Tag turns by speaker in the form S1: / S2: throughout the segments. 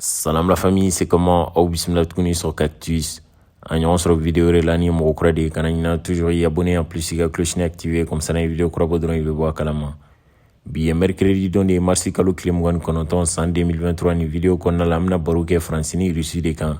S1: Salam la famille, c'est comment Aw bisimila tuguni sur Cactus. An ɲɔgɔn sɔrɔ vidéo wɛrɛ la n'i ye mɔgɔ kura de kana ɲina toujours i abonné en plus i ka clochini activé comme ça n'an ye vidéo kura bɔ dɔrɔn i bɛ bɔ a kalama. Bi ye mercredi don de ye mars kalo tile mugan ni kɔnɔntɔn san 2023 nin vidéo kɔnɔna la an bɛna baro kɛ France ni Russie de kan.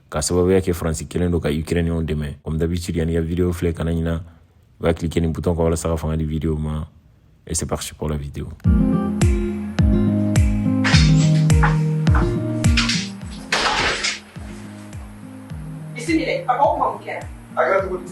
S1: k'a sababuya kɛ faransi kelen don ka ukrainiyɛnw dɛmɛ comme d'habitude yanni i ka video filɛ kana ɲina i b'a klike nin butɔn kan walasa ka fanga di video ma et c'est parti pour la vidéo
S2: bisimila a ko kuma mun kɛra a kɛra cogo di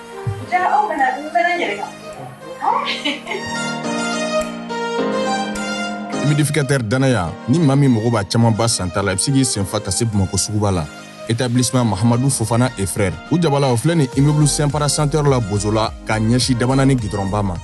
S2: Ja aw
S3: bɛna n bɛ na yɛlɛ kan. humidificateur danaya ni maa min mago b'a camanba santa la i bɛ se k'i sen fa ka se bamakɔ suguba la établissement mahamadu fofana et frère u jabala o filɛ nin immeuble Simpara centre la bozola ka ɲɛsin Dabanani gidɔrɔnba
S1: ma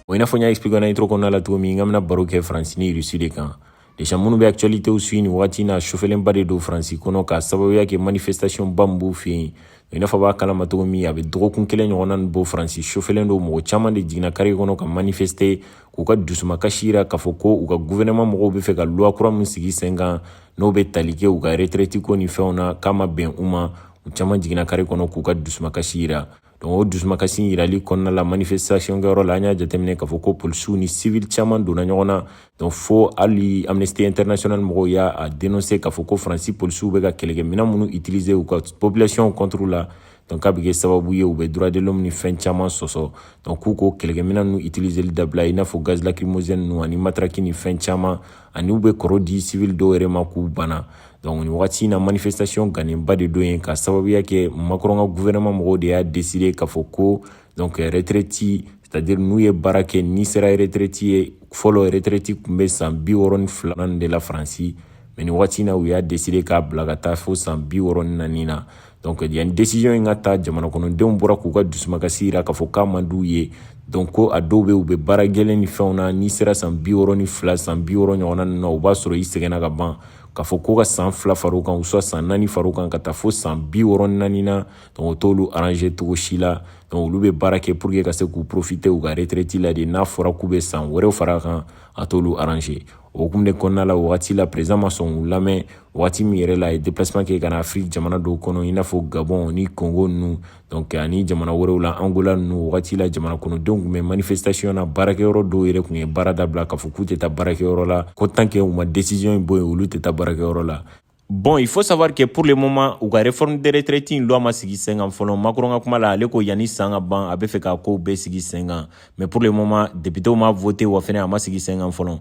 S1: o i n'a fɔ n y'a expliquer na intro kɔnɔna la cogo min n k'an bɛna baro kɛ faransi ni rusi de kan Déjà minnu bɛ actualités suit nin wagati in na chauffélenba de don Faransi kɔnɔ k'a sababuya kɛ manifestation ba min b'u fɛ yen i n'a fɔ aw b'a kalama cogo min a bɛ dɔgɔkun kelen ɲɔgɔnna nin bɔ Faransi chauffélen don mɔgɔ caman de jiginna kare kɔnɔ ka manifester k'u ka dusumakasi jira k'a fɔ ko u ka gouvernement mɔgɔw bɛ fɛ ka loi kura min sigi sen kan n'o bɛ tali kɛ u ka retraite ko ni fɛnw na k'a ma bɛn u ma u caman jiginna kare kɔnɔ k'u ka dusumakasi jira Donc o dusumakasi yirali kɔnɔna la manifestation kɛyɔrɔ la an y'a jateminɛ k'a fɔ ko polisiw ni civil caman donna ɲɔgɔn na donc fo hali amnesty international mɔgɔw y'a denonse k'a fɔ ko faransi polisiw bɛ ka kɛlɛkɛminɛn minnu utiliser u ka population contre la donc k'a bɛ kɛ sababu ye u bɛ droit de l'homme ni fɛn caman sɔsɔ donc k'u k'o kɛlɛkɛminɛn ninnu utiliseli dabila i n'a fɔ gaz lacrymogène ninnu ani matraki ni fɛn caman ani u bɛ kɔrɔ di civil dɔw yɛrɛ ma k'u bana donc nin wagati in na manifestation ganenba de don yen k'a sababuya kɛ Macron ka gouvernement mɔgɔw de y'a décider k'a fɔ ko donc retraite c'est à dire n'u ye baara kɛ n'i sera retraite ye fɔlɔ retraite tun bɛ san bi wɔɔrɔ ni filanan de la faransi mais nin wagati in na u y'a décider k'a bila ka taa fo san bi wɔɔrɔ ni naani na donc yanni décision in ka ta jamana kɔnɔdenw bɔra k'u ka dusumakasi jira k'a fɔ k'a man d'u ye donc ko a dɔw bɛ u bɛ baara gɛlɛn ni fɛnw na n'i sera san bi wɔɔrɔ ni fila san bi wɔɔrɔ ɲɔgɔnna ninnu na o b'a sɔrɔ i sɛgɛnna ka ban k'a fɔ ko ka san fila fara o kan soit san naani fara o kan ka taa fo san bi wɔɔrɔ ni naani na donc o t'olu arranger cogo si la donc olu bɛ baara kɛ pour que ka se k'u profiter u ka retraite la de n'a fɔra k'u bɛ san wɛrɛw fara a kan a t'olu arranger o hukumu de kɔnɔna la wagati la président ma sɔn k'u lamɛn wagati min yɛrɛ la a ye déplacement kɛ ka na afiriki jamana dɔw kɔnɔ i n'a fɔ gabɔn ni kongo ninnu donc ani jamana wɛrɛw la angola ninnu wagati la jamana kɔnɔdenw tun bɛ manifestation na baarakɛyɔrɔ dɔw yɛrɛ tun ye baara dabila k'a fɔ k'u tɛ taa baarakɛyɔrɔ la ko tant que u ma décision in bɔ yen olu tɛ taa baarakɛyɔrɔ la Bon, il faut savoir que pour le moment, u ka réforme des retraites in loi ma sigi sen kan fɔlɔ. Macron ka kuma la, ale ko yanni san ka ban, a bɛ fɛ k'a kow bɛɛ sigi sen kan. Mais pour le moment, députés ma voté wa fɛnɛ a ma sigi sen kan fɔlɔ.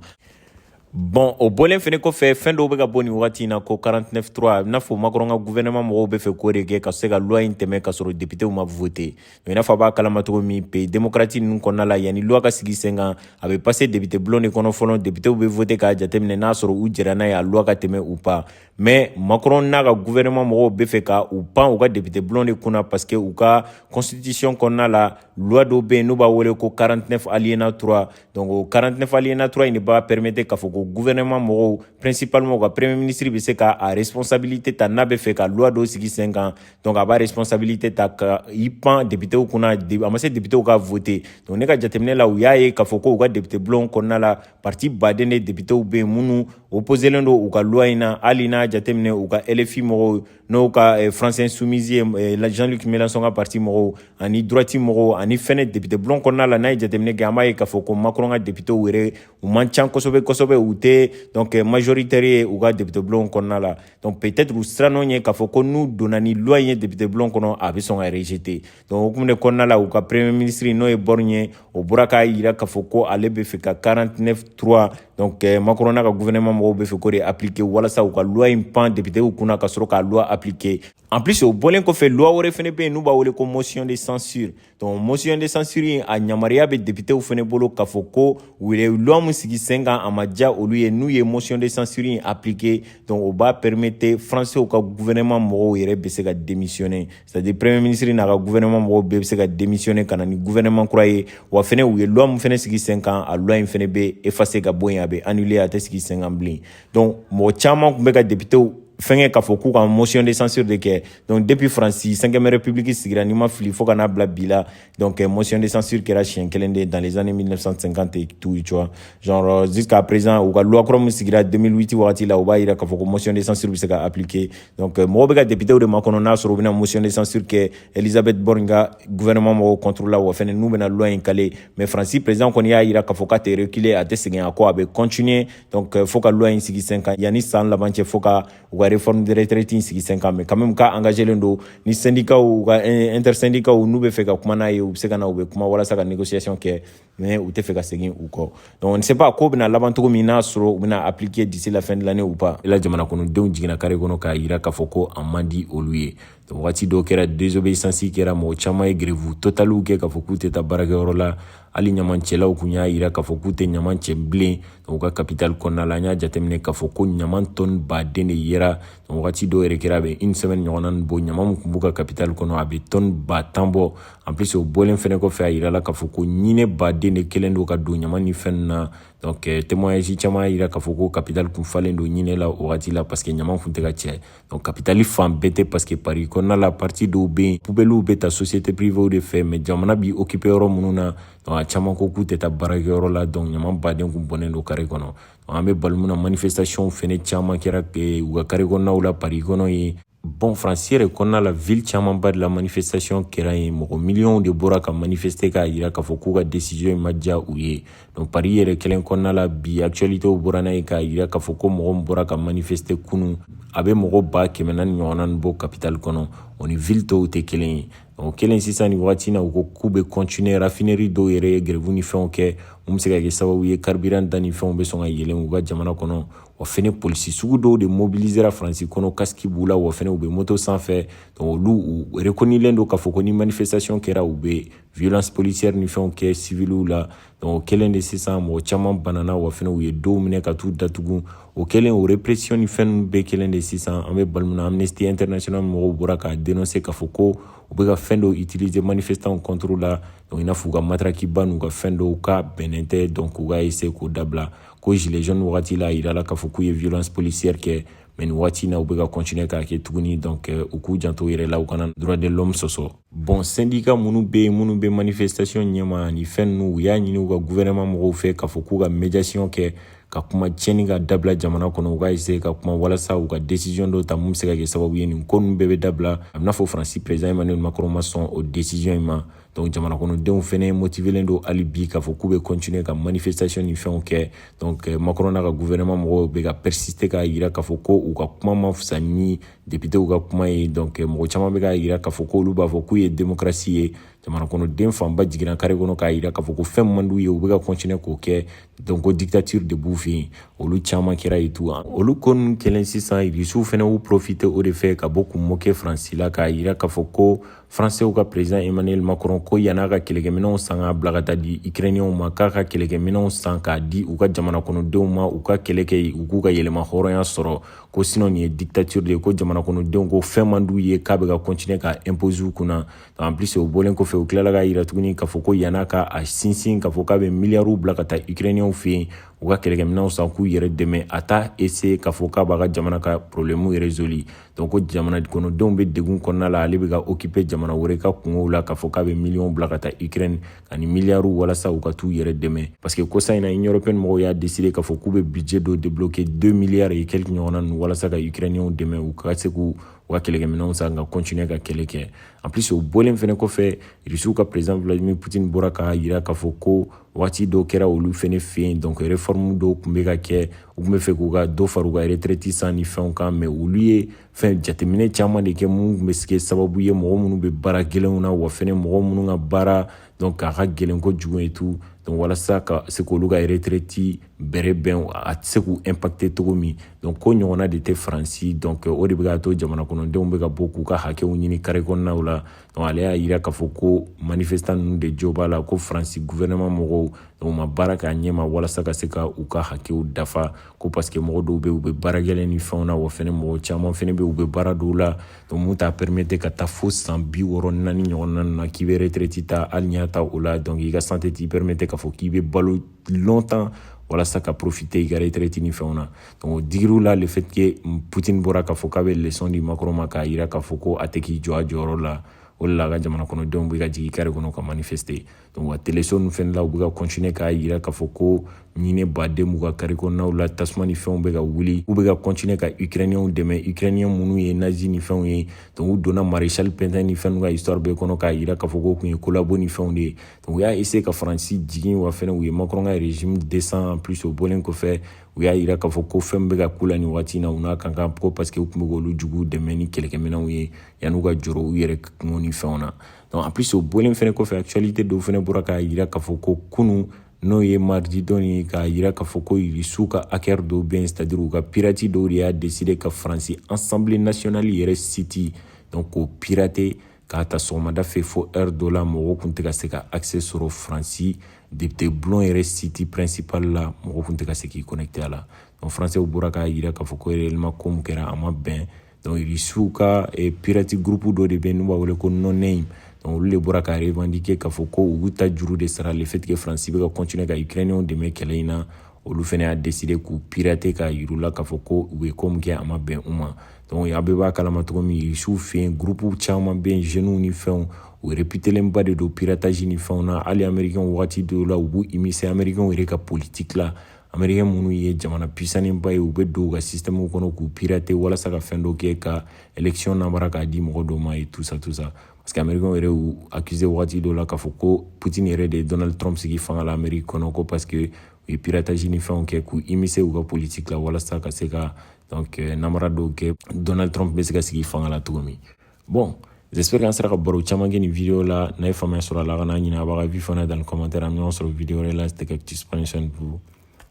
S1: Bon o bɔlen fɛnɛ kɔfɛ fɛn dɔw bɛ ka bɔ nin wagati in na ko 49 3 a bɛ n'a fɔ Macron ka gouvernement mɔgɔw bɛ fɛ k'o de kɛ ka se ka loi in tɛmɛ ka sɔrɔ députés ma voter mais i n'a fɔ a b'a kalama cogo min pays démocratique ninnu kɔnɔna la yanni loi ka sigi sen kan a bɛ passer député bulon de kɔnɔ fɔlɔ députés bɛ voter k'a jateminɛ n'a sɔrɔ u jɛra n'a ye a loi ka tɛmɛ ou pas mais Macron n'a ka gouvernement mɔgɔw bɛ fɛ ka u pan u ka député bulon de kunna parce que u ka constitution kɔnɔna la loi dɔ bɛ yen n'u b'a wele ko 49 alinéa 3 donc o 49 alinéa 3 in de b'a permettre k'a fɔ ko gouvernement mɔgɔw principalement u ka premier ministre bɛ se ka a responsabilité ta n'a bɛ fɛ ka loi dɔ sigi sen kan donc a b'a responsabilité ta ka i pan députéw kunna a ma se députéw ka voter donc ne ka jateminɛ la u y'a ye k'a fɔ ko u ka député bulon kɔnɔna la parti baden de députéw bɛ yen minnu opposelen don u ka loi in na hali n'a jateminɛ u ka LFI mɔgɔw n'o ka eh, France insoumise ye eh, la Jean-Luc Mélenchon ka parti mɔgɔw ani droite mɔgɔw ani fɛnɛ député bulon kɔnɔna la n'a ye jateminɛ kɛ an b'a ye k'a fɔ ko macron ka députéw yɛrɛ u man can kosɛbɛ kosɛbɛ u tɛ donc eh, majoritaire ye u ka député bulon kɔnɔna la donc peut-être u siran'o ɲɛ k'a fɔ ko n'u donna ni loi in ye député bulon kɔnɔ a bɛ sɔn ka rejeter donc o hukumu de kɔnɔna la u ka premier ministre n'o ye Borne ye o bɔra k'a yira k'a fɔ ko ale bɛ fɛ ka 49 3 donc eh, macron n'a ka gouvernement mɔgɔw bɛ fɛ k'o de appliquer walasa u ka loi in pan députéw kunna ka sɔrɔ ka loi appliquer en plus o bɔlen kɔfɛ loi wɛrɛ fɛnɛ bɛ yen n'u b'a wele ko motion de censure donc motion de censure in a yamaruya bɛ députéw fɛnɛ bolo k'a fɔ ko u ye loi min sigi sen kan a ma diya olu ye n'u ye motion de censure in appliquer donc o b'a permettre français ka gouvernement mɔgɔw yɛrɛ bɛ se ka démissionner c'est à dire premier ministre n'a ka gouvernement mɔgɔw bɛɛ bɛ se ka démissionner ka na ni gouvernement kura ye wa fɛnɛ u ye loi min fɛnɛ sigi sen kan a loi in fɛnɛ bɛ effacer ka bɔ yen a bɛ annuler a tɛ sigi sen kan bilen donc mɔgɔ caman tun bɛ ka députés fɛnkɛ k'a fɔ k'u ka motion de censure de kɛ donc depuis faransi cinquième république sigira ni n ma fili fo ka n'a bila bi la Donc, euh, motion de censure kɛra siɲɛ kelen de dans les années 1950 et tout, tu vois. Genre, euh, jusqu'à présent, u ka loi kura min sigira 2008 wagati la, o b'a yira k'a fɔ ko motion de censure bɛ se ka appliquer. Donc, euh, mɔgɔw bɛ ka députés de makɔnɔ n'a sɔrɔ u bɛna motion de censure kɛ Elisabeth Borne ka gouvernement mɔgɔw contre la wa fɛnɛ n'u bɛna loi in caler. Mais France président kɔni y'a yira k'a fɔ k'a tɛ reculer, a tɛ segin a kɔ, a bɛ continuer. Donc, fo ka loi in sigi sen kan yanni san laban cɛ fo ka u ka réforme de retraite in sigi sen kan mais quand même k'a engagélen don ni syndicat u ka intersyndicat n'u bɛ fɛ ka kuma n'a ye u bɛ se ka na u bɛ kuma walasa ka négociation kɛ mais u tɛ fɛ ka segin u kɔ donc on ne sait pas ko bɛna laban cogo min n'a sɔrɔ u bɛna appliquer d'ici la fin de l'année ou pas la jamana kɔnɔdenw jiginna carré kɔnɔ k'a yira k'a fɔ ko a man di olu ye wagati dɔw kɛra désobéissance kɛra mɔgɔ caman ye grève totaliw kɛ k'a fɔ k'u tɛ taa baarakɛyɔrɔ la hali ɲamancɛlaw kun y'a yira k'a fɔ k'u tɛ ɲaman cɛ bilen u ka kapitali kɔnɔna la an y'a jateminɛ k'a fɔ ko ɲaman tɔni baden de yera wagati dɔw yɛrɛ kɛra a bɛ une semaine ɲɔgɔnna nin bɔ ɲaman min kun b'u ka kapitali kɔnɔ a bɛ tɔni ba tan bɔ en plus o bɔlen fɛnɛ kɔfɛ a yirala k'a fɔ ko ɲinɛ baden de kɛlen don ka don ɲaman ni fɛn na donc témoignage caman y'a yira k'a fɔ ko kapitali kun falen don ɲinɛ la o wagati la parce que ɲaman kun tɛ ka cɛ Donc, kapitali fan bɛɛ tɛ parce que pari kɔnɔna la parti dɔw bɛ yen pubɛliw bɛ ta société privée de fɛ mais jamana b'i occuper yɔrɔ minnu na donc a caman ko k'u tɛ taa baarakɛyɔrɔ la donc ɲaman baden kun bɔnnen don kare kɔnɔ an bɛ waati mun na manifestation fɛnɛ caman kɛra u ka kare kɔnɔnaw la pari kɔnɔ yen bon faransi yɛrɛ kɔnɔna la ville camanba de la manifestation kɛra yen mɔgɔ miliyɔnw de bɔra ka manifeste k'a yira k'a fɔ k'u ka décision in ma diya u ye donc pari yɛrɛ kelen kɔnɔna la bi actualitéw bɔra n'a ye k'a yira k'a fɔ ko mɔgɔ min bɔra ka manifeste kunun a bɛ mɔgɔ ba kɛmɛ naani ɲɔgɔnna ni bɔ capitale kɔnɔ o ni ville tɔw tɛ kelen ye o kɛlen sisan nin wagati na u ko k'u bɛ continuer raffinerie dɔw yɛrɛ ye grève ni fɛnw kɛ mun bɛ se ka kɛ sababu ye carburant da ni fɛnw bɛ sɔn ka yɛlɛn u ka jamana kɔnɔ wa fɛnɛ polisi sugu dɔw de mobilisera faransi kɔnɔ kasiki b'u la wa fɛnɛ u bɛ moto sanfɛ donc olu u reconnailen don k'a fɔ ko ni manifestation kɛra u bɛ violence policière ni fɛnw kɛ civiliw la donc o kɛlen de sisan mɔgɔ caman banana wa fɛnɛ u ye dɔw minɛ ka t'u datugu o kɛlen o répression ni fɛn ninnu bɛɛ kɛlen de sisan an bɛ waati min na amnesty international mɔgɔw bɔra k'a denonse k'a fɔ ko u bɛ ka fɛn dɔw utiliser manifestanw contre la donc i n'a fɔ u ka matarakiba n'u ka fɛn dɔw k'a bɛnnen tɛ donc u ka essayer k'o dabila ko gilet jaune wagati la a yirala k'a fɔ k'u ye violence policière kɛ mais nin waati in na u bɛ ka continuer k'a kɛ tuguni donc u k'u janto u yɛrɛ la u kana droit de l'homme sɔsɔ bon sendika minnu bɛ yen minnu bɛ manifestation ɲɛma ni fɛn ninnu u y'a ɲini u ka guvɛrɛnman mɔgɔw fɛ k'a fɔ k'u ka médiation kɛ ka kuma tiɲɛni ka dabila jamana kɔnɔ u ka essaye ka kuma walasa u ka décision dɔ ta mun bɛ se ka kɛ sababu ye nin ko ninnu bɛɛ bɛ dabila a b'i n'a fɔ faransi président emmanuel macron ma sɔn o décision in ma donc jamana kɔnɔdenw fɛnɛ motivelen don hali bi k'a fɔ k'u bɛ continuer ka manifestation ni fɛnw kɛ donc macron n'a ka guvɛrɛnman mɔgɔw bɛ ka persister k'a yira k'a fɔ ko u ka kuma ma fisa ni depitew ka kuma ye donc mɔgɔ caman bɛ k'a yira k'a fɔ k'olu b'a fɔ k'u ye demokarasi ye jamana kɔnɔden fanba jiginna kare kɔnɔ k'a yira k'a fɔ ko fɛn man d'u ye u bɛ ka continuer k'o kɛ donc ko dictature de b'u fɛ yen olu caman kɛra yen tout olu ko ninnu kɛlen sisan russiw fɛnɛ y'u profite o de fɛ ka bɔ k'u moke faransi la k'a yira k'a fɔ ko Fransew ka president Emmanuel Macron ko yan'a ka kɛlɛkɛminɛnw san k'a bila ka t'a di Ukrainiens ma k'a ka kɛlɛkɛminɛnw san k'a di u ka jamana kɔnɔdenw ma u ka kɛlɛ kɛ u k'u ka yɛrɛmahɔrɔnya sɔrɔ ko sinon nin ye dictature de ye ko jamana kɔnɔdenw ko fɛn man d'u ye k'a bɛ ka continuer k'a imposer u kunna en plus o bɔlen kɔfɛ u tilala k'a yira tuguni k'a fɔ ko yan'a ka a sinsin k'a fɔ k'a bɛ miliyariw bila ka taa Ukrainiens fɛ yen u ka kɛlɛkɛminɛnw san k'u yɛrɛ dɛmɛ a t'a essayer k'a fɔ k'a b'a ka jamana ka problème résoudre donc ko jamana kɔnɔdenw bɛ degun kɔnɔna la ale bɛ ka occuper jamana wɛrɛ ka kungow la k'a fɔ k'a bɛ miliyɔn bila ka taa ukraine ani miliyariw walasa u ka t'u yɛrɛ dɛmɛ parce que kɔsa in na union européenne mɔgɔw y'a décider k'a fɔ k'u bɛ budget dɔ débloquer 2 milliards et quelques ɲɔgɔnna ninnu walasa ka ukrainienw dɛmɛ u ka se k'u u ka kɛlɛkɛminɛnw san ka continuer ka kɛlɛ kɛ en plus o bɔlen fɛnɛ kɔfɛ rusiw ka président vladimir poutine bɔra k'a yira k'a fɔ ko waati dɔw kɛra olu fɛnɛ fɛ yen donc réforme dɔw tun bɛ ka kɛ u tun bɛ fɛ k'u ka dɔ fara u ka retraite san ni fɛnw kan mais olu ye fɛn jateminɛ caman de kɛ minnu tun bɛ se kɛ sababu ye mɔgɔ minnu bɛ baara gɛlɛnw na wa fɛnɛ mɔgɔ minnu ka baara donc a ka gɛlɛn kojugu et tout donc walasa ka se k'olu ka retraite bɛrɛbɛn a tɛ se k'u impacter cogo min donc ko ɲɔgɔnna de tɛ faransi donc o de bɛ k'a to jamana kɔnɔdenw bɛ ka bɔ k'u ka hakɛw ɲini kare kɔnɔnaw la donc ale y'a yira k'a fɔ ko manifestant ninnu de jo b'a la ko faransi gouvernement mɔgɔw donc ma baara k'a ɲɛma walasa ka se ka u ka hakɛw dafa ko parce que mɔgɔ dɔw bɛ u bɛ baara gɛlɛn ni fɛnw na wa fɛnɛ mɔgɔ caman fɛnɛ bɛ u bɛ baara dɔw la donc mun t'a permettre ka taa fo san bi wɔɔrɔ naani ɲɔgɔnna na k'i bɛ retraite ta hali n'i y'a ta o la donc i ka santé t'i permettre k'a fɔ k'i bɛ balo longtemps walasa ka profiter i ka retraite ni fɛnw na o digir'u la le fait que Poutine bɔra k'a fɔ k'a bɛ leçon di Macron ma k'a jira k'a fɔ ko a tɛ k'i jɔ a jɔyɔrɔ la o de la a ka jamana kɔnɔdenw bɛ ka jigin kare kɔnɔ ka manifester donc wa teleso ninnu fɛnɛ la u bɛ ka continuer k'a jira k'a fɔ ko ɲinɛba de b'u ka kare kɔnɔnaw la tasuma ni fɛnw bɛ ka wuli u bɛ ka continuer ka ukrainiens dɛmɛ ukrainiens minnu ye nazi ni fɛnw ye donc u donna maréchal Pétain ni fɛnw ka histoire bɛɛ kɔnɔ k'a jira k'a fɔ k'o tun ye collabo ni fɛnw de ye donc u y'a essayer ka faransi jigin wa fɛnɛ u ye macron ka régime descend en plus o bɔlen kɔfɛ u y'a yira k'a fɔ ko fɛn bɛ ka k'u la nin waati na u n'a ka kan ko parce que u tun bɛ k'olu juguw dɛmɛ ni kɛlɛkɛminɛnw ye yan'u ka jɔrɔ u yɛrɛ kungo ni fɛnw na donc en plus o bɔlen fɛnɛ kɔfɛ actualité dɔw fɛnɛ bɔra k'a yira k'a fɔ ko kunu n'o ye mardi don ye k'a yira k'a fɔ ko irisiw ka hacker dɔw bɛ yen c'est-à-dire u ka pirate dɔw de y'a décider ka faransi assemblée nationale yɛrɛ site donc k'o pirater k'a ta sɔgɔmada fɛ fo heure dɔ la mɔgɔw tun tɛ ka se ka accès sɔrɔ faransi depite bulon yɛrɛ site principal la mɔgɔw tun tɛ ka se k'i connecter a la donc faransɛw bɔra k'a yira k'a fɔ ko réellement ko min kɛra a ma bɛn donc irisiw ka eh, pirate groupe dɔ de bɛ yen n'u b'a wele ko noname donc olu de bɔra k'a revendiquer k'a fɔ ko u tajuru de sara le fait que faransi bɛ ka continuer ka ukrainiens dɛmɛ kɛlɛ in na olu fana y'a décider k'u pirater k'a yir'u la k'a fɔ ko u ye ko min kɛ a ma bɛn u ma a bɛɛ b'a kalama cogo min rusiw fɛ yen gurupuw caman bɛ yen zeniw ni fɛnw u réputélenba de don piratage ni fɛnw na hali amerikɛnw wagati dɔw la u b'u immiscer amerikɛnw yɛrɛ ka politiki la amerikɛn minnu ye jamana pisanenba ye u bɛ don u ka sisitɛmuw kɔnɔ k'u pirater walasa ka fɛn dɔ kɛ ka elekisiyɔn namara k'a di mɔgɔ dɔw ma et tout ça tout ça parce que amerikɛnw yɛrɛ y'u accuser wagati dɔw la k'a fɔ ko poutine yɛrɛ de ye donald trump sigi fanga la ameriki kɔnɔ ko parce que u ye piratage ni fɛnw kɛ k'u immiscer u ka politiki la walasa ka se ka donc euh, namara dɔw kɛ donald trump bɛ se ka sigi fanga la cogo min bon j'espère qu'an sera ka baro caman kɛ nin video la n'a ye faamuya sɔrɔ a la kana ɲinɛ a b'a ka avis fana dans les commentaires an bɛ ɲɔgɔn sɔrɔ video wɛrɛ la c'était cactus prenez soin de vous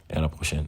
S1: et à la prochaine